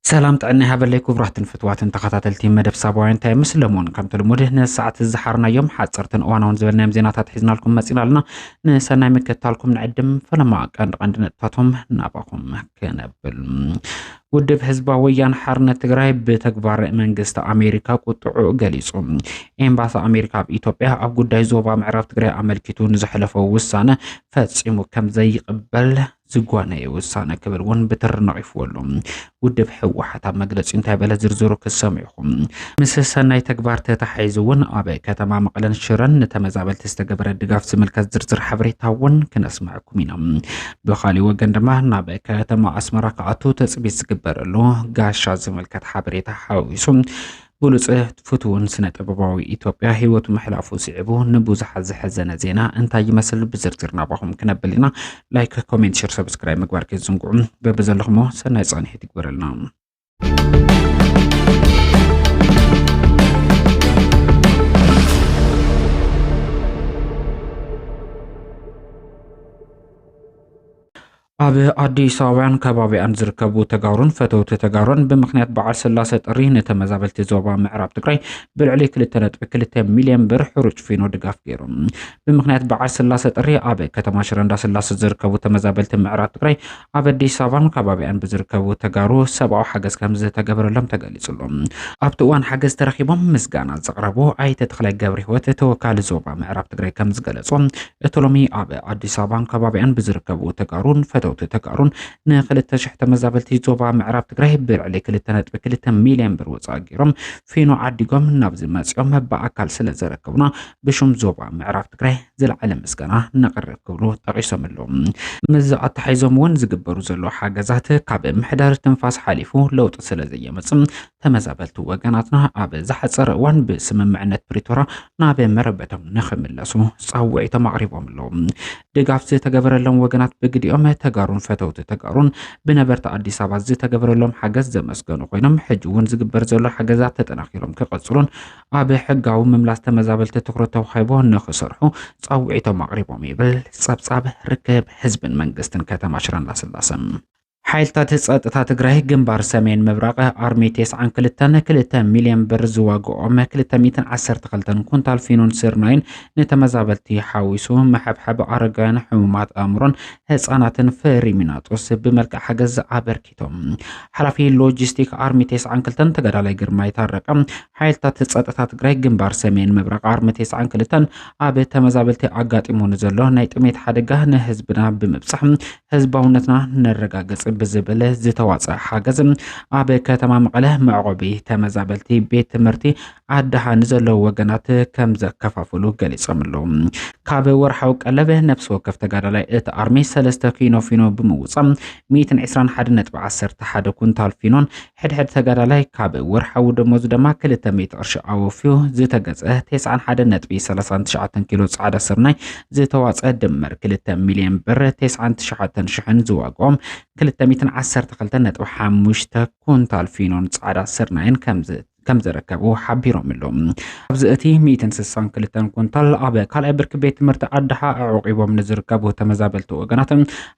ሰላም ጥዕና ሃበለይ ክቡራትን ፍትዋትን ተኸታተልቲ መደብ ሳባውያን እንታይ ምስ ለሞን ከምቲ ልሙድ ንሰዓት ዝሓርናዮም ሓፀርትን እዋናውን ዝበልናዮም ዜናታት ሒዝናልኩም መፂና ኣለና ንሰናይ ምክታልኩም ንዕድም ፈለማ ቀንዲ ቀንዲ ነጥብታቶም ናባኹም ክነብል ውድብ ህዝባዊ ወያነ ሓርነት ትግራይ ብተግባር መንግስቲ ኣሜሪካ ቁጥዑ ገሊጹ። ኤምባሲ ኣሜሪካ ኣብ ኢትዮጵያ ኣብ ጉዳይ ዞባ ምዕራብ ትግራይ ኣመልኪቱ ንዘሕለፎ ውሳነ ፈጺሙ ከም ዘይቕበል ዝጓነየ ውሳነ ክብል እውን ብትሪ ነቒፍዎ ኣሎ። ውድብ ህወሓት ኣብ መግለጺ እንታይ በለ ዝርዝሩ ክትሰምዑ ኣለኩም። ምስ ሰናይ ተግባር ተተሓሒዙ እውን ኣብ ከተማ መቐለን ሽረን ንተመዛበልቲ ዝተገበረ ድጋፍ ዝምልከት ዝርዝር ሓበሬታ እውን ክነስምዐኩም ኢና። ብካሊእ ወገን ድማ ናብ ከተማ ኣስመራ ክኣቱ ተፅቢት ዝግበረሉ ጋሻ ዝምልከት ሓበሬታ ሓዊሱ ብሉፅ ፍትውን ስነ ጥበባዊ ኢትዮጵያ ህይወቱ ምሕላፉ ስዒቡ ንብዙሓት ዘሐዘነ ዜና እንታይ ይመስል ብዝርዝር ናባኹም ክነብል ኢና። ላይክ፣ ኮሜንት፣ ሸር፣ ሰብስክራይብ ምግባር ከይትዝንግዑ በብዘለኹሞ ሰናይ ፃንሒት ይግበረልና። ኣብ ኣዲስ ኣበባን ከባቢያን ዝርከቡ ተጋሩን ፈተውቲ ተጋሩን ብምክንያት በዓል ስላሰ ጥሪ ንተመዛበልቲ ዞባ ምዕራብ ትግራይ ብልዕሊ 2.2 ሚልዮን ብር ሕሩጭ ፊኖ ድጋፍ ገይሩ ብምክንያት በዓል ስላሰ ጥሪ ኣብ ከተማ ሽረ እንዳስላሰ ዝርከቡ ተመዛበልቲ ምዕራብ ትግራይ ኣብ ኣዲስ ኣበባን ከባቢኣን ብዝርከቡ ተጋሩ ሰብኣዊ ሓገዝ ከምዝተገበረሎም ተገሊጹሉ። ኣብቲ እዋን ሓገዝ ተረኪቦም ምስጋና ዘቕረቡ ኣይተ ተኽላይ ገብረህይወት ተወካሊ ዞባ ምዕራብ ትግራይ ከምዝገለጾ እቲ ሎሚ ኣብ ኣዲስ ኣበባን ከባቢኣን ብዝርከቡ ተጋሩን ፈተውቲ ተጋሩን ንክልተ ሽሕ ተመዛበልቲ ዞባ ምዕራብ ትግራይ ብልዕሊ ክልተ ነጥቢ ክልተ ሚልዮን ብር ወፃኢ ገይሮም ፊኖ ዓዲጎም ናብዚ መፂኦም ብኣካል ስለዘረከቡና ብሽም ዞባ ምዕራብ ትግራይ ዝለዓለ ምስጋና ነቕርብ ክብሉ ጠቒሶም ኣለዉ። ምስዚ ኣተሓሒዞም እውን ዝግበሩ ዘለዉ ሓገዛት ካብ ምሕዳር ትንፋስ ሓሊፉ ለውጢ ስለ ዘየመፅም ተመዛበልቲ ወገናትና ኣብ ዝሓፀረ እዋን ብስምምዕነት ፕሪቶራ ናብ መረበቶም ንክምለሱ ፃውዒቶም ኣቕሪቦም ኣለዉ። ድጋፍ ዝተገበረሎም ወገናት ብግዲኦም ተጋሩን ፈተውቲ ተጋሩን ብነበርቲ ኣዲስ ኣበባ ዝተገበረሎም ሓገዝ ዘመስገኑ ኮይኖም ሕጂ እውን ዝግበር ዘሎ ሓገዛት ተጠናኺሮም ክቐፅሉን ኣብ ሕጋዊ ምምላስ ተመዛበልቲ ትኩረት ተዋሂቦ ንክሰርሑ ፃውዒቶም ኣቕሪቦም ይብል ፀብፃብ ርክብ ህዝብን መንግስትን ከተማ ሽረ እንዳስላሰ። ሓይልታት ፀጥታ ትግራይ ግንባር ሰሜን ምብራቕ ኣርሚ ቴስዓን ክልተን ክልተ ሚሊዮን ብር ዝዋግኦም ክልተ ሚእትን ዓሰርተ ክልተን ኩንታል ፊኖን ስርናይን ንተመዛበልቲ ሓዊሱ መሐብሐብ ኣረጋውያን ሕሙማት ኣእምሮን ህፃናትን ፍሪሚናጦስ ብመልክዕ ሓገዝ ኣበርኪ ኣመልኪቶም ሓላፊ ሎጂስቲክ ኣርሚ ቴስዓን ክልተን ተጋዳላይ ግርማ ይታረቀ ሓይልታት ፀጥታ ትግራይ ግንባር ሰሜን ምብራቅ ኣርሚ ቴስዓን ክልተን ኣብ ተመዛበልቲ ኣጋጢሙ ንዘሎ ናይ ጥሜት ሓደጋ ንህዝብና ብምብፃሕ ህዝባውነትና ነረጋግፅ ብዝብል ዝተዋፀ ሓገዝ ኣብ ከተማ መቐለ መዕቆቢ ተመዛበልቲ ቤት ትምህርቲ ኣድሃ ንዘለዉ ወገናት ከም ዘከፋፍሉ ገሊጾም ኣለዉ ካብ ወርሓዊ ቀለብ ነፍሲ ወከፍ ተጋዳላይ እቲ ኣርሚ ሰለስተ ኪኖ ፊኖ ብምውጻእ 121.11 ኩንታል ፊኖን ሕድሕድ ተጋዳላይ ካብ ወርሓዊ ደሞዙ ድማ 200 ቅርሺ ኣወፍዩ ዝተገጸ 91.39 ኪሎ ጻዕዳ ስርናይ ዝተዋጸ ድምር 2 ሚልዮን ብር 99 ሽሕን ዝዋግኦም 212.5 ኩንታል ፊኖን ጻዕዳ ስርናይን ከምዚ ከም ዝርከቡ ሓቢሮም ኣለዉ። ኣብዚ እቲ ሚእትን ስሳን ክልተን ኩንታል ኣብ ካልኣይ ብርኪ ቤት ትምህርቲ ኣድሓ ኣዕቂቦም ንዝርከቡ ተመዛበልቲ ወገናት፣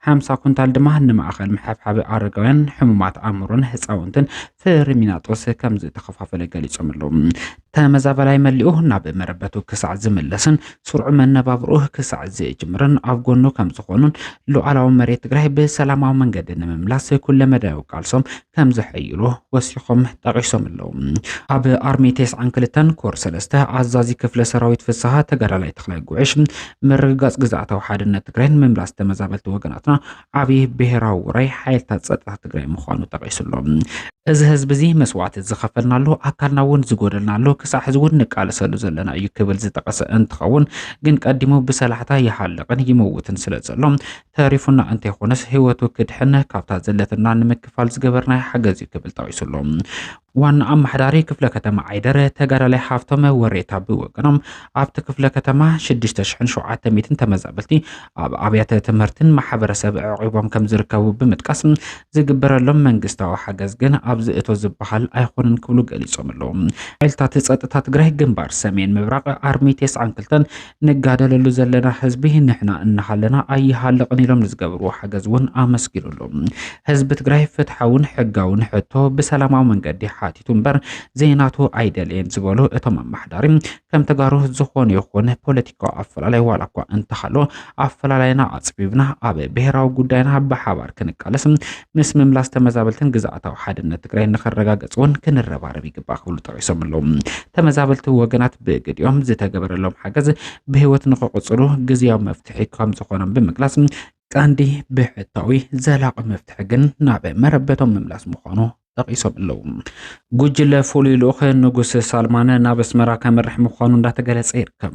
ሓምሳ ኩንታል ድማ ንማእኸል ምሕብሓብ ኣረጋውያን፣ ሕሙማት ኣእምሮን ህፃውንትን ፍሪሚናጦስ ከም ዝተኸፋፈለ ገሊፆም ኣለዉ። ተመዛበላይ መሊኡ ናብ መረበቱ ክሳዕ ዝምለስን ስርዑ መነባብሮ ክሳዕ ዝጅምርን ኣብ ጎኑ ከም ዝኾኑን ሉዓላዊ መሬት ትግራይ ብሰላማዊ መንገዲ ንምምላስ ኩለመዳያዊ ቃልሶም ከም ዘሐይሎ ወሲኾም ጠቒሶም ኣለዉ። ኣብ ኣርሚ ቴስዓን ክልተን ኮር ሰለስተ ኣዛዚ ክፍለ ሰራዊት ፍስሓ ተጋዳላይ ተኽላይ ጉዕሽ ምርግጋጽ ግዝኣታዊ ሓድነት ትግራይን ምምላስ ተመዛበልቲ ወገናትና ዓብዪ ብሔራዊ ውራይ ሓይልታት ጸጥታ ትግራይ ምዃኑ ጠቒሱ ኣሎ። እዚ ህዝቢ እዚ መስዋእቲ ዝኸፈልናሉ ኣካልና እውን ዝጎደልናሉ ክሳዕ ሕዚ እውን ንቃለሰሉ ዘለና እዩ ክብል ዝጠቐሰ እንትኸውን ግን ቀዲሙ ብሰላሕታ ይሃልቕን ይመውትን ስለ ዘሎ ተሪፉና እንተይኾነስ ህይወቱ ክድሕን ካብታ ዘለትና ንምክፋል ዝገበርናዮ ሓገዝ እዩ ክብል ጠቒሱ ኣሎ። ዋና ኣመሓዳሪ ክፍለ ከተማ ዓይደር ተጋዳላይ ሃፍቶም ወሬታ ብወገኖም ኣብቲ ክፍለ ከተማ 6700 ተመዛበልቲ ኣብ ኣብያተ ትምህርትን ማሕበረሰብ ዕቂቦም ከም ዝርከቡ ብምጥቃስ ዝግበረሎም መንግስታዊ ሓገዝ ግን ኣብዚ እቶ ዝበሃል ኣይኮነን ክብሉ ገሊፆም ኣለዉ። ሓይልታት ፀጥታ ትግራይ ግንባር ሰሜን ምብራቅ ኣርሚ 92 ንጋደለሉ ዘለና ህዝቢ ንሕና እናሃለና ኣይሃልቕን ኢሎም ንዝገበርዎ ሓገዝ እውን ኣመስጊኑሉ። ህዝቢ ትግራይ ፍትሓውን ሕጋውን ሕቶ ብሰላማዊ መንገዲ ሓቲቱ እምበር ዘይናቱ ኣይደልየን ዝበሉ እቶም ኣመሓዳሪ ከም ተጋሩ ዝኾነ ይኹን ፖለቲካዊ ኣፈላላይ ዋላ እኳ እንተሃሎ ኣፈላላይና ኣፅቢብና ኣብ ብሄራዊ ጉዳይና ብሓባር ክንቃለስ ምስ ምምላስ ተመዛበልትን ግዝኣታዊ ሓድነት ትግራይ ንኸረጋገፅ እውን ክንረባረብ ይግባእ ክብሉ ጠቂሶም ኣለዉ። ተመዛበልቲ ወገናት ብግዲኦም ዝተገበረሎም ሓገዝ ብህይወት ንክቕፅሉ ግዝያዊ መፍትሒ ከም ዝኾኖም ብምግላፅ ቀንዲ ብሕታዊ ዘላቂ መፍትሒ ግን ናብ መረበቶም ምምላስ ምዃኑ ጠቂሶም ኣለዉ። ጉጅለ ፍሉይ ልኡኽ ንጉስ ሳልማን ናብ ኣስመራ ከምርሕ ምዃኑ እንዳተገለጸ ይርከብ።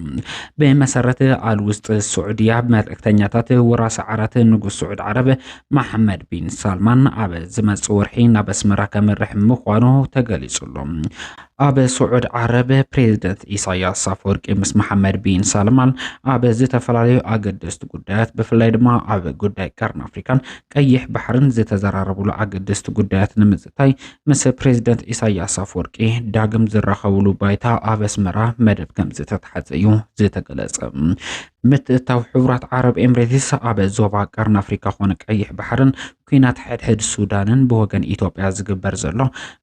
ብመሰረት ኣል ውስጥ ስዑድያ መልእክተኛታት ወራሲ ዓራት ንጉስ ስዑድ ዓረብ መሐመድ ቢን ሳልማን ኣብ ዝመጽእ ወርሒ ናብ ኣስመራ ከምርሕ ምዃኑ ተገሊጹ ኣሎ። ኣብ ስዑድ ዓረብ ፕሬዚደንት ኢሳያስ ኣፈወርቂ ምስ መሐመድ ቢን ሳልማን ኣብ ዝተፈላለዩ ኣገደስቲ ጉዳያት ብፍላይ ድማ ኣብ ጉዳይ ቀርኒ ኣፍሪካን ቀይሕ ባሕርን ዝተዘራረብሉ ኣገደስቲ ጉዳያት ንምዝታይ ምስ ፕሬዚደንት ኢሳያስ ኣፈወርቂ ዳግም ዝራኸብሉ ባይታ ኣብ ኣስመራ መደብ ከም ዝተታሓዘ እዩ ዝተገለጸ። ምትእታው ሕቡራት ዓረብ ኤምሬትስ ኣብ ዞባ ቀርኒ ኣፍሪካ ኮነ ቀይሕ ባሕርን ኩናት ሕድሕድ ሱዳንን ብወገን ኢትዮጵያ ዝግበር ዘሎ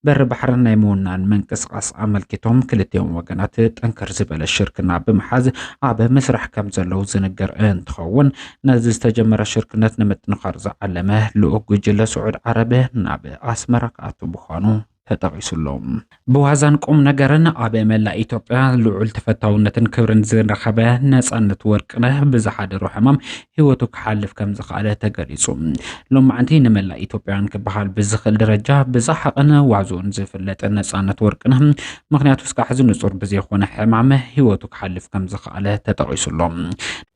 በሪ ባሕሪ ናይ ምውናን ምንቅስቓስ ኣመልኪቶም ክልቲኦም ወገናት ጠንከር ዝበለ ሽርክና ብምሓዝ ኣብ ምስራሕ ከም ዘለው ዝንገር እንትኸውን ነዚ ዝተጀመረ ሽርክነት ንምጥንኻር ዝዓለመ ልኡክ ጉጅለ ስዑድ ዓረብ ናብ ኣስመራ ክኣቱ ምዃኑ ተጠቒሱ'ሎ። ብዋዛን ቁም ነገርን ኣብ መላእ ኢትዮጵያ ልዑል ተፈታውነትን ክብርን ዝረኸበ ነጻነት ወርቅነህ ብዝሓደሮ ሕማም ህይወቱ ክሓልፍ ከም ዝኸኣለ ተገሊጹ። ሎማዕንቲ ንመላእ ኢትዮጵያውያን ክበሃል ብዝኽእል ደረጃ ብዛሓቕን ዋዝኡን ዝፍለጥ ነጻነት ወርቅነህ ምኽንያቱ እስካሕዚ ንጹር ብዘይኮነ ሕማም ህይወቱ ክሓልፍ ከም ዝኸኣለ ተጠቒሱ'ሎ።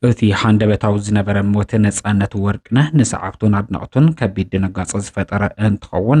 እቲ ሃንደበታዊ ዝነበረ ሞት ነጻነት ወርቅነህ ንሰዓብቱን ኣድነቕቱን ከቢድ ድንጋጸ ዝፈጠረ እንትኸውን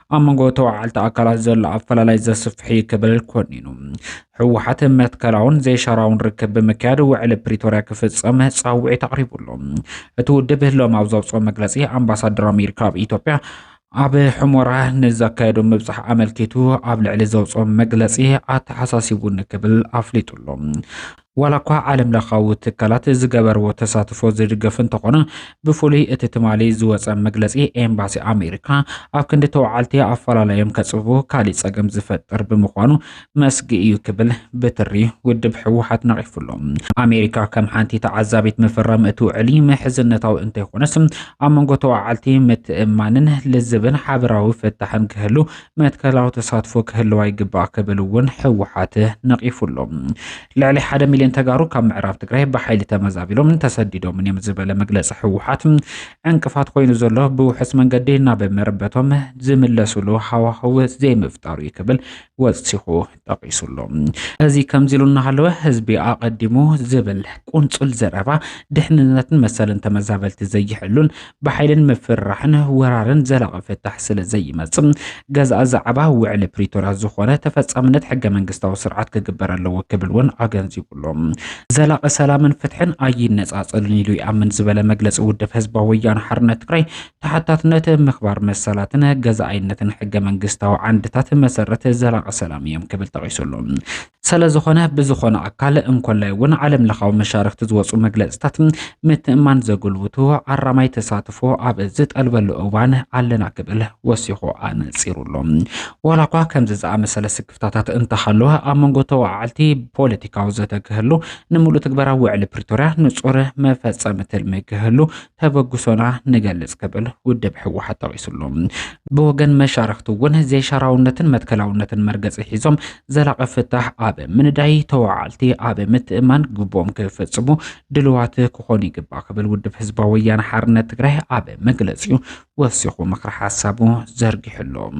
ኣብ መንጎ ተዋዓልቲ ኣካላት ዘሎ ኣፈላላይ ዘስፍሕ እዩ ክብል ኮኒኑ ህወሓት መትከላውን ዘይሻራውን ርክብ ብምክያድ ውዕሊ ፕሪቶርያ ክፍፀም ፃውዒት ኣቕሪቡሉ እቲ ውድብ ሎም ኣብ ዘውፅኦ መግለፂ ኣምባሳደር ኣሜሪካ ኣብ ኢትዮጵያ ኣብ ሕሞራ ንዘካየዱ ምብፃሕ ኣመልኪቱ ኣብ ልዕሊ ዘውፅኦ መግለፂ ኣተሓሳሲቡኒ ክብል ኣፍሊጡሉ ዋላ እኳ ዓለም ለኻዊ ትካላት ዝገበርዎ ተሳትፎ ዝድገፍ እንተኾነ ብፍሉይ እቲ ትማሊ ዝወፀ መግለፂ ኤምባሲ ኣሜሪካ ኣብ ክንዲ ተወዓልቲ ኣፈላላዮም ከፅብቡ ካሊእ ፀገም ዝፈጥር ብምዃኑ መስጊ እዩ ክብል ብትሪ ውድብ ህወሓት ነቒፉ ኣሎ። ኣሜሪካ ከም ሓንቲ ተዓዛቢት ምፍራም እቲ ውዕሊ ምሕዝነታዊ እንተይኾነስ ኣብ መንጎ ተወዓልቲ ምትእምማንን ልዝብን ሓበራዊ ፍታሕን ክህሉ መትከላዊ ተሳትፎ ክህልዋ ይግባእ ክብል እውን ህወሓት ነቒፉ ኣሎ። ልዕሊ ሓደ ሚልዮን ተጋሩ ካብ ምዕራብ ትግራይ ብሓይሊ ተመዛቢሎም ተሰዲዶምን እዮም ዝበለ መግለፂ ህወሓት ዕንቅፋት ኮይኑ ዘሎ ብውሑስ መንገዲ ናብ መረበቶም ዝምለሱሉ ሃዋህው ዘይምፍጣሩ እዩ ክብል ወሲኹ ጠቒሱሎ። እዚ ከምዚ ኢሉ እናሃለወ ህዝቢ ኣቐዲሙ ዝብል ቁንፁል ዘረባ ድሕንነትን መሰልን ተመዛበልቲ ዘይሕሉን ብሓይልን ምፍርራሕን ወራርን ዘላቒ ፍታሕ ስለ ዘይመፅእ ገዛእ ዛዕባ ውዕሊ ፕሪቶርያ ዝኾነ ተፈፃምነት ሕገ መንግስታዊ ስርዓት ክግበር ኣለዎ ክብል እውን ኣገንዚቡሎ። ዘላቒ ሰላምን ፍትሕን ኣይነፃፀሉን ኢሉ ይኣምን ዝበለ መግለፂ ውድብ ህዝባዊ ወያነ ሓርነት ትግራይ ተሓታትነት፣ ምኽባር መሰላትን ገዛኣይነትን ሕገ መንግስታዊ ዓንድታት መሰረት ዘላቒ ሰላም እዮም ክብል ጠቒሱ ኣሎ። ሰለዝኾነ ብዝኾነ ኣካል እንኮላይ እውን ዓለም ለኻዊ መሻርክቲ ዝወፁ መግለፅታት ምትእማን ዘጉልብቱ ኣራማይ ተሳትፎ ኣብ ዝጠልበሉ እዋን ኣለና ክብል ወሲኹ ኣነፂሩ ኣሎ። ዋላ እኳ ከምዚ ዝኣመሰለ ስክፍታታት እንተሃለወ ኣብ መንጎ ተወዓዓልቲ ፖለቲካዊ ዘተ ክህሉ፣ ንምሉእ ትግበራ ውዕሊ ፕሪቶርያ ንፁር መፈፀሚ ትልሚ ክህሉ ተበግሶና ንገልጽ ክብል ውድብ ህወሓት ጠቒሱሉ። ብወገን መሻርኽቲ እውን ዘይሻራውነትን መትከላውነትን መርገፂ ሒዞም ዘላቒ ፍታሕ ኣብ ምንዳይ ተወዓልቲ ኣብ ምትእማን ግቡኦም ክፍፅሙ ድልዋት ክኾኑ ይግባእ ክብል ውድብ ህዝባዊ ወያነ ሓርነት ትግራይ ኣብ መግለፂኡ ወሲኹ ምክሪ ሓሳቡ ዘርጊሑሎም።